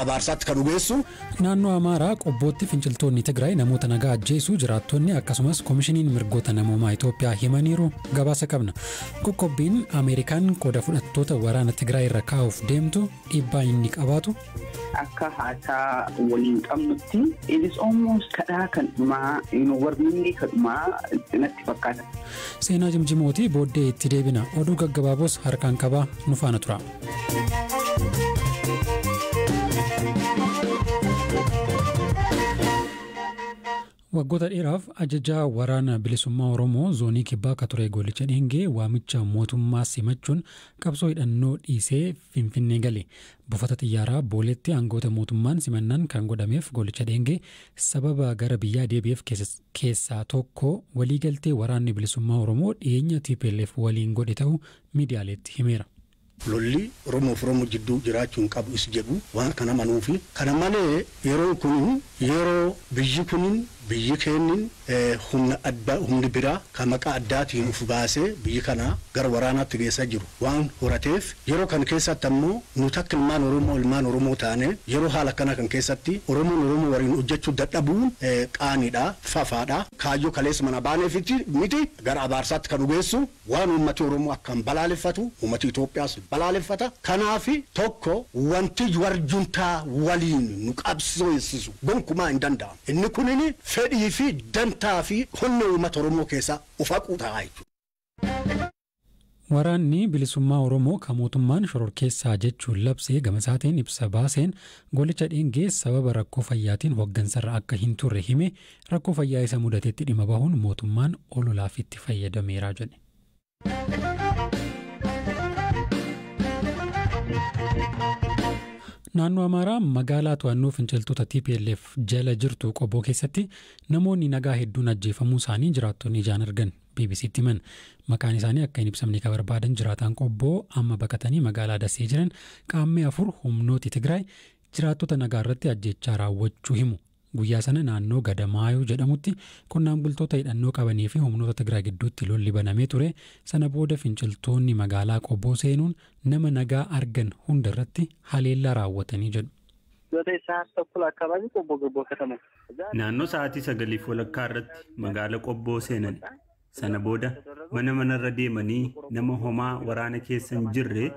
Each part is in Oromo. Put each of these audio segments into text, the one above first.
abaarsaatti ka dhugeessu. Naannoo Amaaraa Qobbootti finciltoonni Tigraay namoota nagaa ajjeesuu jiraattonni akkasumas Komishiniin Mirgoota Namoomaa Itoophiyaa himaniiru gabaasa qabna. Qoqqobbiin Ameerikaan qooda fudhattoota waraana Tigraay irra kaa'uuf deemtu dhiibbaa inni qabaatu. akka haasaa waliin qabnutti it is almost kadhaa kan dhumaa you know, warnillee kan dhumaa natti fakkaata. Seenaa jimjimooti booddee itti deebina. Oduu gaggabaaboos harkaan qabaa nu faana tura. Waggoota dheeraaf ajajaa waraana bilisummaa Oromoo zoonii kibbaa akka ture Goollicha Dheengee waamicha mootummaa simachuun qabsoo hidhannoo dhiisee Finfinnee gale. Buufata xiyyaaraa Booleetti aangoota mootummaan simannaan kan godhameef Goollicha Dheengee sababa gara biyyaa deebi'eef keessaa tokko waliigaltee waraanni bilisummaa Oromoo dhiyeenya TPLF waliin godhe ta'uu miidiyaaleetti himeera. Lolli Oromoo fi Oromoo jidduu jiraachuu hin qabu is jedhu waan kan amanuu fi kana malee yeroon kun yeroo biyyi kun biyyi keennin humna adda humni biraa ka maqaa addaatiin uf baasee biyyi kana gara waraanaatti geessaa jiru waan horateef yeroo kan keessaatti ammoo nuti akka ilmaan Oromoo ilmaan Oromoo taanee yeroo haala akkanaa kan keessatti Oromoon Oromoo waliin hojjachuu dadhabuun qaaniidha, fafaadha. Kaayyoo kaleessa manaa baaneefiti miti gara abaarsaatti ka nu geessu. Waan uummati Oromoo akkaan balaaleffatu uummati Itoophiyaas balaaleffata. Kanaaf tokko wanti war juntaa waliin nu qabsooysisu gonkumaa hin danda'amu. Inni kunin fedhii fi dantaa fi onnee uummata Oromoo keessaa of haquu ta'a jechuudha. Waraanni Bilisummaa Oromoo ka mootummaan shororkeessaa jechuun labse gama isaatiin ibsa baaseen, Goolicha Dheengee sababa rakkoo fayyaatiin hoggansarra akka hin turre hime, Rakkoo fayyaa isa mudatetti dhima bahuun mootummaan ololaaf itti fayyadameera jedhe. Naannoo Amaaraa magaalaa to'annoo finciltoota TPLF jala jirtu qoboo keessatti namoonni nagaa hedduun ajjeefamuu isaanii jiraattonni ijaan argan BBCtti himan. Maqaan isaanii akka hin ibsamne kan barbaadan jiraataan qobboo amma baqatanii magaalaa Dasee jiran qaammee afur humnooti Tigraay jiraattota nagaa irratti ajjechaa raawwachuu himu. Guyyaa sana naannoo Gada Maayuu jedhamutti qonnaan bultoota hidhannoo qabanii fi humnoota Tigraay gidduutti lolli banamee ture, sana booda finciltoonni magaalaa Qoboo seenuun nama nagaa argan hunda irratti haleellaa raawwatanii jedhu. Naannoo sa'aatii sagaliif walakkaa irratti magaala Qobboo seenani. Sana booda mana manarra deemanii nama homaa waraana keessa hin jirre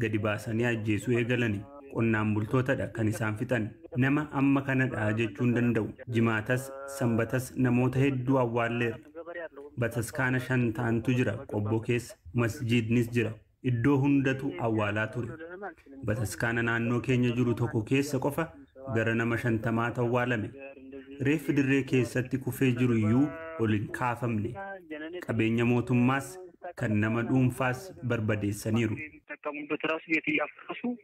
gadi baasanii ajjeesuu eegalani. Qonnaan bultootadha kan isaan fixan. Nama amma kanadha jechuu hin danda'u. Jimaatas, Sanbatas namoota hedduu awwaalleerra. Bataskaana shan ta'antu jira Qobboo keessa. Masjiidnis jira. Iddoo hundatu awwaalaa ture. Bataskaana naannoo keenya jiru tokko keessa qofa gara nama shantamaatu awwaalame. Reeffi dirree keessatti kufee jiru iyyuu ol hin kaafamne. Qabeenya mootummaas kan nama dhuunfaas barbadeessaniiru.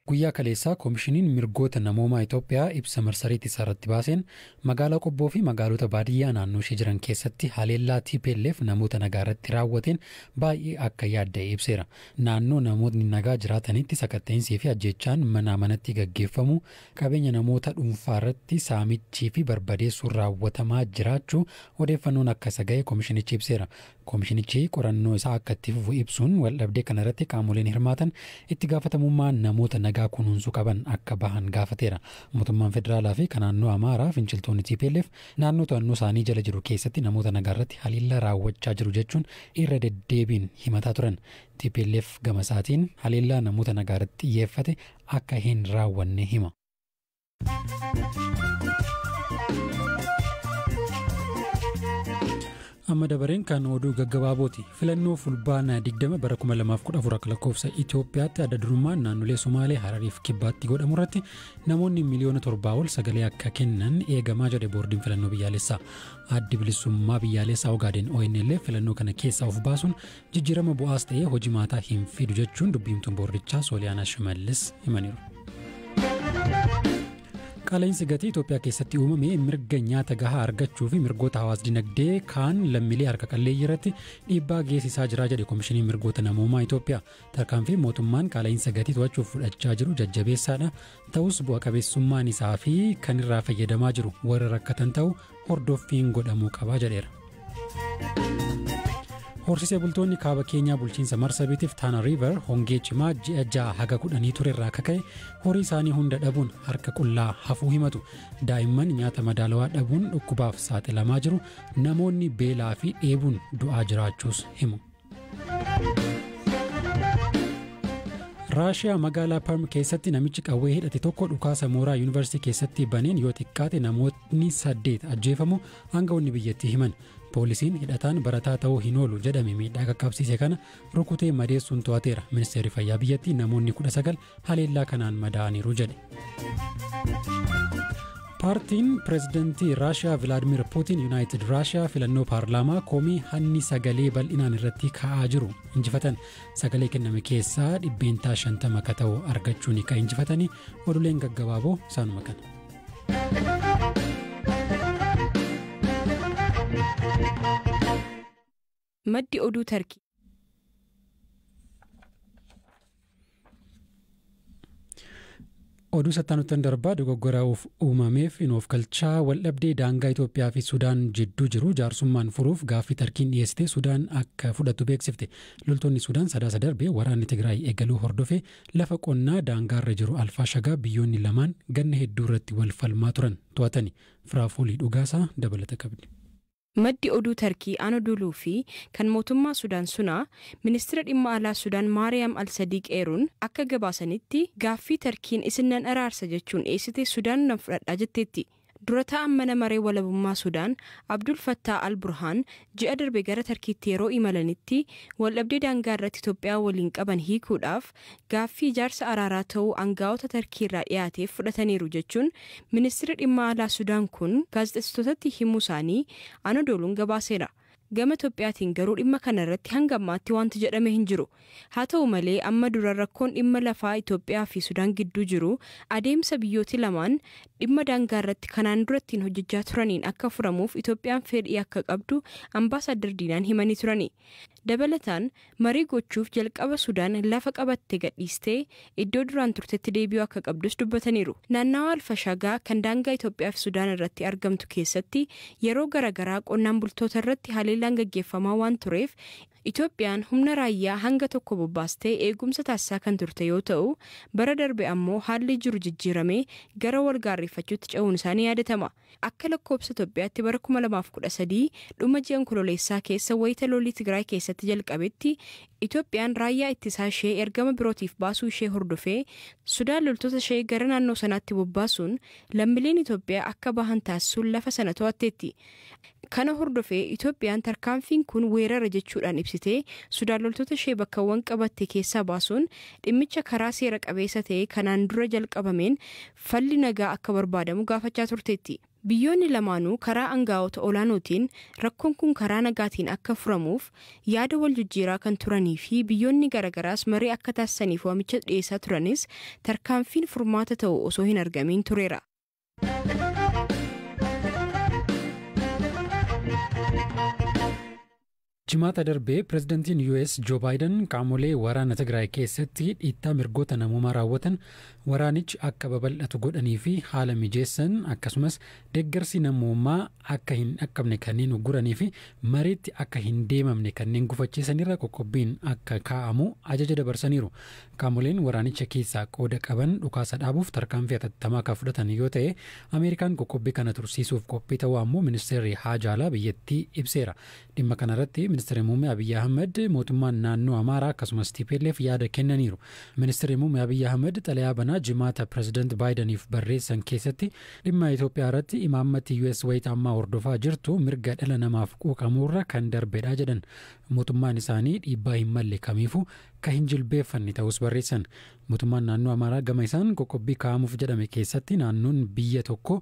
Guyyaa kaleessaa Komishiniin Mirgoota Namoomaa Itoophiyaa ibsa marsariitii isaarratti baaseen Magaalaa Qobboo fi magaalota baadiyyaa naannoo ishee jiran keessatti haleellaa tplf namoota nagaa irratti raawwateen baay'ee akka yaadda'e ibseera. Naannoo namootni nagaa jiraatanitti sakatta'insii fi ajjeechaan manaa manatti gaggeeffamuu, qabeenya namoota dhuunfaa irratti saamichii fi barbadeessuun raawwatamaa jiraachuu odeeffannoon akka isa ga'e komishinichi ibseera. Komishinichi qorannoo isaa akka itti fufu ibsuun, waldhabdee kana irratti qaamoleen hirmaatan itti gaafatamummaa namoota nagaa kunuunsuu qaban akka bahan gaafateera. Mootummaan federaalaa fi ka naannoo Amaaraa finciltoonni tplf naannoo to'annoo isaanii jala jiru keessatti namoota nagaa irratti haleellaa raawwachaa jiru jechuun irra deddeebiin himataa turan. Tplf gama isaatiin haleellaa namoota nagaa irratti xiyyeeffate akka hin raawwanne hima. amma dabareen kan oduu gaggabaabooti filannoo fulbaana 20 bara 2014 akka lakkoofsa itiyoophiyaatti adda durummaan naannolee somaalee harariif kibbaatti godhamu irratti namoonni miliyoona torbaa ol sagalee akka kennan eegamaa jedhe boordiin filannoo biyyaalessaa addi bilisummaa biyyaalessaa ogaadeen onl filannoo kana keessaa of baasuun Jijjiirama bu'aas ta'ee hojimaataa hin fidu jechuun dubbiimtuun boordichaa Sooliyaanaa Shimallis himaniiru. Qaala'insi gatii Itoophiyaa keessatti uumame mirga nyaata gahaa argachuu fi mirgoota hawaas dinagdee kaan lammiilee harka qalleeyyii irratti dhiibbaa geessisaa jira jedhe Komishiniin Mirgoota Namoomaa Itoophiyaa. Tarkaanfii mootummaan qaala'insa gatii to'achuuf fudhachaa jiru jajjabeessaadha. Ta'us bu'a qabeessummaan isaa fi kan irraa fayyadamaa jiru warra rakkatan ta'u hordoffiin godhamuu qaba jedheera. Horsiisee bultoonni kaaba keenyaa bulchiinsa Marsabiitiif Taana Riiver hongee cimaa ji'a ja'a haga kudhanii ture irraa akka ka'e horii isaanii hunda dhabuun harka qullaa hafuu himatu. Daa'imman nyaata madaalawaa dhabuun dhukkubaaf saaxilamaa jiru. Namoonni beelaa fi dheebuun du'aa jiraachuus himu. raashiyaa magaalaa parm keessatti namichi qawwee hidhate tokko dhukaasa mooraa yuunivarsiitii keessatti baneen yoo xiqqaate namootni saddeet ajjeefamu aangawoonni biyyattii himan poolisiin hidhataan barataa ta'uu hin oolu jedhame miidhaa qaqqabsiise kana rukutee madeessuun to'ateera ministeerri fayyaa biyyattii namoonni kudha sagal haleellaa kanaan madaa'aniiru jedhe. Paartiin pireezidantii Raashiyaa Vilaadimir Puutiin Yuunaayitid Raashiyaa filannoo paarlaamaa komii hanni sagalee bal'inaan irratti ka'aa jiru injifatan sagalee kenname keessaa dhibbeentaa 50 akka ta'u argachuun kan injifatanii oduuleen gaggabaaboo isaanuma kana. Maddi oduu Tarkii. Oduu sattaanuttan darbaa dogoggora uumameef hin oofkalchaa waldhabdee daangaa Itoophiyaa fi Sudaan jidduu jiru jaarsummaan furuuf gaaffii tarkiin dhiyeessite Sudaan akka fudhattu beeksifte. Loltoonni Sudaan sadaasa darbe waraanni Tigraay eegaluu hordofee lafa qonnaa daangaarra jiru Alfaa Shagaa biyyoonni lamaan ganna hedduu irratti wal falmaa turan to'atani. Firaafoolii dhugaasaa dabalata qabdi. Maddi oduu Tarkii Anodoluu fi kan mootummaa Sudaan Sunaa, Ministira Dhimma Alaa Sudaan Maariyaam Al-Sadiiq eeruun akka gabaasanitti, gaaffii Tarkiin isin nan araarsa jechuun dhiyeessite Sudaan nan fudhadha jetteetti. Dura taa'aan Mana Maree Walabummaa Sudaan Abdul Fattaa Al-Burhaan ji'a darbe gara Tarkiitti yeroo imalanitti waldhabdee daangaa irratti Itoophiyaa waliin qaban hiikuudhaaf gaaffii ijaarsa araaraa ta'uu angaa'ota Tarkiirraa dhiyaateef fudhataniiru jechuun Ministirri Dhimma Alaa Sudaan kun gaazexessitootatti himuusaanii Anodooluun gabaaseera. Gama Itoophiyaatiin garuu dhimma kanarratti hanga ammaatti waanti jedhame hin jiru. Haa ta'u malee amma dura rakkoon dhimma lafaa Itoophiyaafi Sudaan gidduu jiru adeemsa biyyooti lamaan dhimma daangaarratti kanaan dura ittiin hojjechaa turaniin akka furamuuf Itoophiyaan fedhii akka qabdu Ambaasaaddar Diinaan himanii turani. Dabalataan Marii gochuuf jalqaba Sudaan lafa qabatte gadhiistee iddoo duraan turtetti deebi'uu akka qabdus dubbataniiru. Naannawaa Alfashagaa kan daangaa Itoophiyaa fi Sudaan irratti argamtu keessatti yeroo gara garaa qonnaan bultoota irratti haleellaan gaggeeffamaa waan tureef Itoophiyaan humna raayyaa hanga tokko bobbaastee eegumsa taasisaa kan turte yoo ta'u, bara darbe ammoo haalli jiru jijjiiramee gara wal gaarreeffachuutti ce'uun isaa ni yaadatama. Akka lakkoobsa Itoophiyaatti bara 2013 dhuma ji'a Onkololeessaa keessa wayita lolli Tigraay keessatti jalqabetti Itoophiyaan raayyaa ittisaa ishee ergama birootiif baasuu ishee hordofee Sudaan loltoota ishee gara naannoo sanaatti bobbaasuun lammileen Itoophiyaa akka bahan taasisuun lafa sana to'atteetti. Kana hordofee Itoophiyaan tarkaanfiin kun weerara jechuudhaan ibsitee Sudaan loltoota ishee bakkawwan qabatte keessaa baasuun dhimmicha karaa seera qabeessa ta'e kanaan dura jalqabameen falli nagaa akka barbaadamu gaafachaa turteetti. Biyyoonni lamaanuu karaa angaa'ota olaanootiin rakkoon kun karaa nagaatiin akka furamuuf yaada wal jijjiiraa kan turanii fi biyyoonni garagaraas marii akka taasisaniif waamicha dhiyeessaa turanis tarkaanfiin furmaata ta'u osoo hin argamiin tureera. Jimaata darbee pirezidantiin US Joo Baayidan qaamolee waraana Tigraay keessatti dhiittaa mirgoota namoomaa raawwatan waraanichi akka babal'atu godhanii fi haala mijeessan akkasumas deeggarsi namoomaa akka hin dhaqqabne kanneen ugguranii fi mariitti akka hin deemamne kanneen gufachiisan irra qoqqobbiin akka kaa'amu ajaja dabarsaniiru. Qaamoleen waraanicha keessaa qooda qaban dhukaasa dhaabuuf tarkaanfii hatattamaa kan fudhatan yoo ta'e, Ameerikaan qoqqobbii kana tursiisuuf qophii ta'uu ammoo Ministeerri Haajaa Alaa biyyattii ibseera. Dhimma kanarratti Ministirri Muummee Abiy Ahimad, mootummaan naannoo Amaaraa akkasumas tplf yaada kennaniiru. Ministirri Muummee Abiy Ahimad xalayaa banaa Jimaata Pireezidant Baayidaniif barreessan keessatti dhimma Itoophiyaarratti imaammati US wayita ammaa hordofaa jirtu mirga dhala namaaf quuqamuurra kan darbedha jedhan. Mootummaan isaanii dhiibbaa hin malle kamiifuu akka hin jilbeeffanne ta'uus barreessan. Mootummaan Naannoo Amaaraa gama isaan qoqqobbii kaa'amuuf jedhame keessatti naannoon biyya tokkoo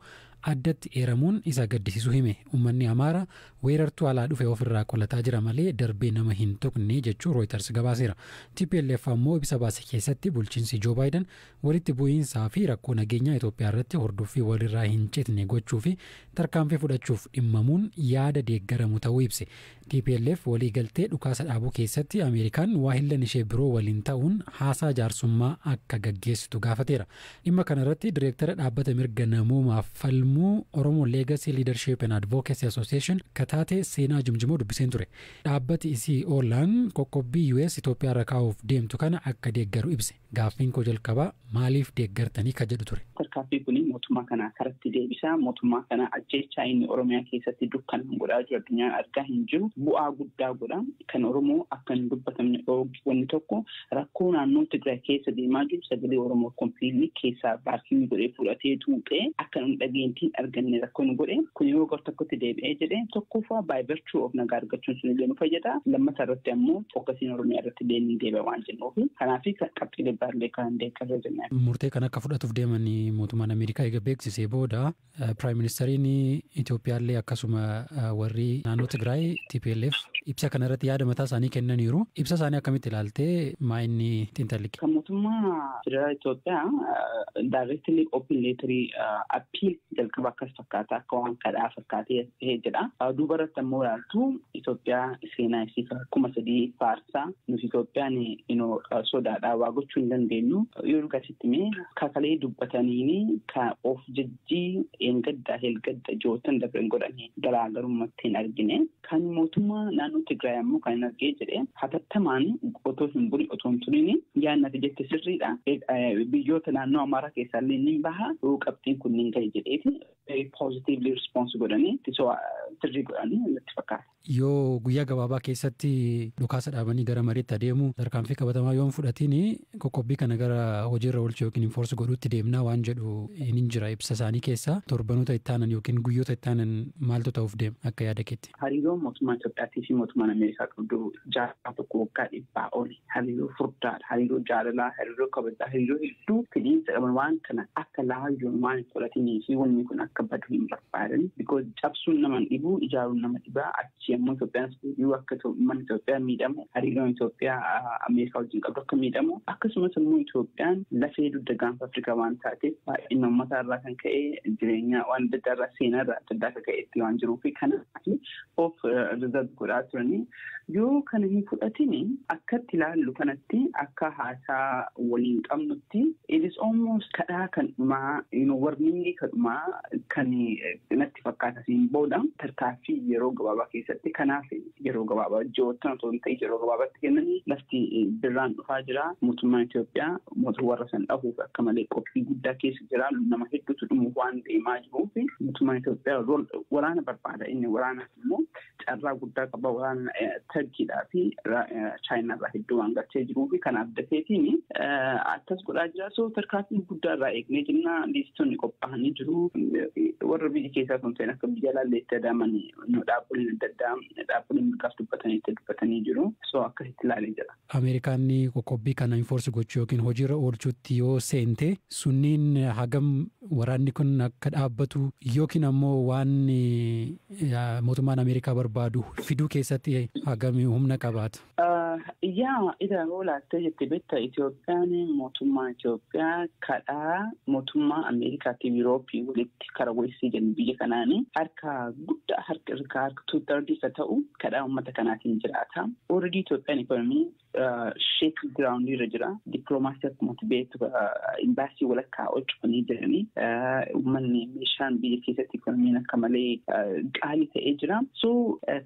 addatti eeramuun isa gaddisiisuu hime. Ummanni Amaara weerartuu alaa dhufe of irraa qolataa jira malee darbee nama hin tuqne jechuu Rooyitars gabaaseera. Tplf ammoo ibsa baase keessatti bulchiinsi Joo Baayidan Walitti bu'iinsaa fi rakkoo nageenyaa Itoophiyaa irratti hordoffii walirraa hin citne gochuu fi tarkaanfii fudhachuuf dhimmamuun yaada deeggaramu ta'uu ibse. Tplf waliigaltee dhukaasa dhaabuu keessatti Ameerikaan waahillan ishee biroo waliin ta'uun haasaa jaarsummaa akka gaggeessitu gaafateera. Dhimma kana irratti Direektara Dhaabbata Mirga Namoomaaf falmu Oromo Legacy Leadership and Advocacy Association ka taate Seenaa Jimjimoo dubbiseen ture. Dhaabbati isii Oolaan qoqqobbii US Itoophiyaa irra kaa'uuf deemtu kana akka deeggaru ibse. Gaaffiin koo jalqabaa maaliif deeggartanii ka jedhu ture. Tarkaaffii kuni mootummaa kana karatti deebisa. Mootummaa kana ajjeechaa inni Oromiyaa keessatti dukkanaan godhaa jiru addunyaan argaa hin jiru. Bu'aa guddaa godha. Kan Oromoo akka hin dubbatamne dhoowge wanni tokko rakkoo naannoo Tigraay keessa deemaa jiru sagalee Oromoo completely keessaa vacuum godhee fudhatee xuuxee akka nun dhageenytti hin arganne rakkoo nu godhe. Kun yeroo gar tokkotti deebi'ee jedhe tokkoffaa by virtue of nagaa argachuun sun illee nu fayyada. Lammata irratti ammoo fokkasiin Oromiyaa irratti illee ni deebi'a waan jennuuf. ofi kanaaf qabxiilee baay'ee kan deeggarree jennaan. Murtee kan akka fudhatuuf deeman mootummaan Ameerikaa eega beeksisee booda Piraayim Ministeeriin Itoophiyaallee akkasuma warri naannoo Tigraay TPLF ibsa kanarratti yaada mataa isaanii kennaniiru. Ibsa isaanii akkamitti ilaaltee maa inni xiinxalli? Kan mootummaa federaalaa Itoophiyaa daayireektilii oopin leetarii appiil jalqaba akkas fakkaata akka waan kadhaa fakkaatee as dhihee jedha. Duuba irratti ammoo ilaaltu Itoophiyaa seenaa isii kuma sadii faarsaa nuti Itoophiyaan inoo sodaadhaa waa gochuu hin dandeenyu yoo dhugasitti mee kakalee dubbataniini ka of jajjii eengaddaa heelgadda jootan dabren godhanii garaagarummaatti hin argine. Kan mootummaa naannoo Tigraay ammoo kan hin argee jedhe hatattamaan otoo hin buli otoo hin turin yaadni ati jette sirriidha. Biyyoota naannoo Amaaraa keessaa illee ni baha qabxiin kun ni gahe jedheeti poozitiivli rispoonsi godhanii ittisoo sirrii godhanii natti fakkaata. Yoo guyyaa gabaabaa keessatti dhukaasa dhaabanii gara mariitti adeemu tarkaanfii qabatamaa yoo hin fudhatiin Qoqqobbii kana gara hojiirra oolchu yookiin enforce godhuutti deemna waan jedhu hin jira ibsa isaanii keessa. Torbanoota itti aanan yookiin guyyoota itti aanan maaltu ta'uuf deema akka yaada keetti? Hariiroon mootummaa Itoophiyaatii fi mootummaan Ameerikaa qabdu jaarraa tokko waggaa dhibbaa oli hariiroo furdaadha. Hariiroo jaalalaa, hariiroo kabajaa, hariiroo hedduu fidhiinsa qaban waan kana akka laayyoon waan hin fudhatinii fi wanni kun akka badu hin barbaadan because cabsuun nama hin dhibu ijaaruun nama dhiba. Yommuu Itoophiyaan deebi'u akka uummanni Itoophiyaa miidhamu, hariiroon Itoophiyaa Ameerikaa wajjin qabdu akka miidhamu, akkasumas immoo Itoophiyaan lafee dugda gaanfa Afrikaa waan taateef baay'ina uummataa irraa kan ka'e jireenya waan adda addaa irraa seenaa irraa adda addaa akka ka'etti waan jiruu fi kanaaf of rizarv godhaa turanii yoo kana hin fudhatin akkatti ilaallu kanatti akka haasaa waliin qabnutti it is almost kadhaa kan dhumaa warningii kan dhumaa kan natti fakkaata siin booda tarkaanfii yeroo gabaabaa keessatti kanaaf yeroo gabaabaa ji'oottan otoo hin ta'in yeroo gabaabaatti kennanii lafti birraan dhufaa jira mootummaan Itoophiyaa mootummaa warra san dhahuuf akka malee qophii guddaa keessa jira nama hedduutu dhumuuf waan deemaa jiruuf mootummaan Itoophiyaa waraana barbaada inni waraanaaf immoo carraa guddaa qaba waan tarkiidhaa fi chaayinaa irraa hedduu waan galchee jiruu fi kanaaf dafeetiin akkas godhaa jira so tarkaanfii guddaa irraa eegnee jenna liistonni qophaa'anii jiru warra biyya keessaa sun ta'in akka biyya laallee itti adaaman dhaabbileen adda addaa dhaabbileen mirgaaf dubbatanii itti dubbatanii jiru so akkas itti ilaalee jira. Ameerikaan qoqqobbii kana enforce gochuu yookiin hojiirra oolchuutti yoo seente sunniin hagam waraanni kun akka dhaabbatu yookiin ammoo waan mootummaan Ameerikaa barbaadu fiduu keessatti hagam humna qabaata? Yaa ida hoo laattee jette betta Itoophiyaan mootummaa Itoophiyaa kadhaa mootummaa Ameerikaatiif Yurooppii walitti. irratti kara weessii jennu biyya kanaani harka guddaa harka irka harka two thirds ka ta'u kadhaa uummata kanaatiin jiraata. Already Itoophiyaan ekonomii sheek giraawundii irra jira. Dippiloomaasii akkuma beektu imbaasii walakkaa ol cufanii jiranii uummanni meeshaan biyya keessatti ekonomiin akka malee qaalii ta'ee jira. So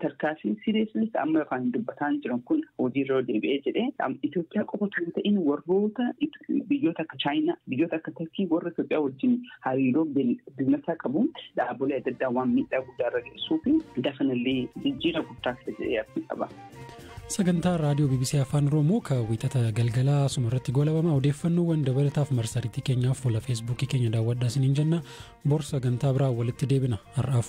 tarkaanfiin siriyeeslis amma afaan dubbataan jiran kun hojiirra deebi'ee jedhee Itoophiyaa qofa kan ta'in warroota biyyoota akka Chaayinaa, biyyoota akka Turkii warra Itoophiyaa wajjin hariiroo biznasaa qabuun dhaabbilee adda addaa waan miidhaa guddaa irra geessuu fi dafanallee jijjiirama guddaa fidee abdii qaba. Sagantaa raadiyoo BBC Afaan Oromoo kan wiixata galgalaa asuma irratti goolabama odeeffannoowwan dabalataaf marsariitii keenyaaf fuula feesbuukii keenya daawwadhaa isiniin jenna bor sagantaa biraa walitti deebina har'aaf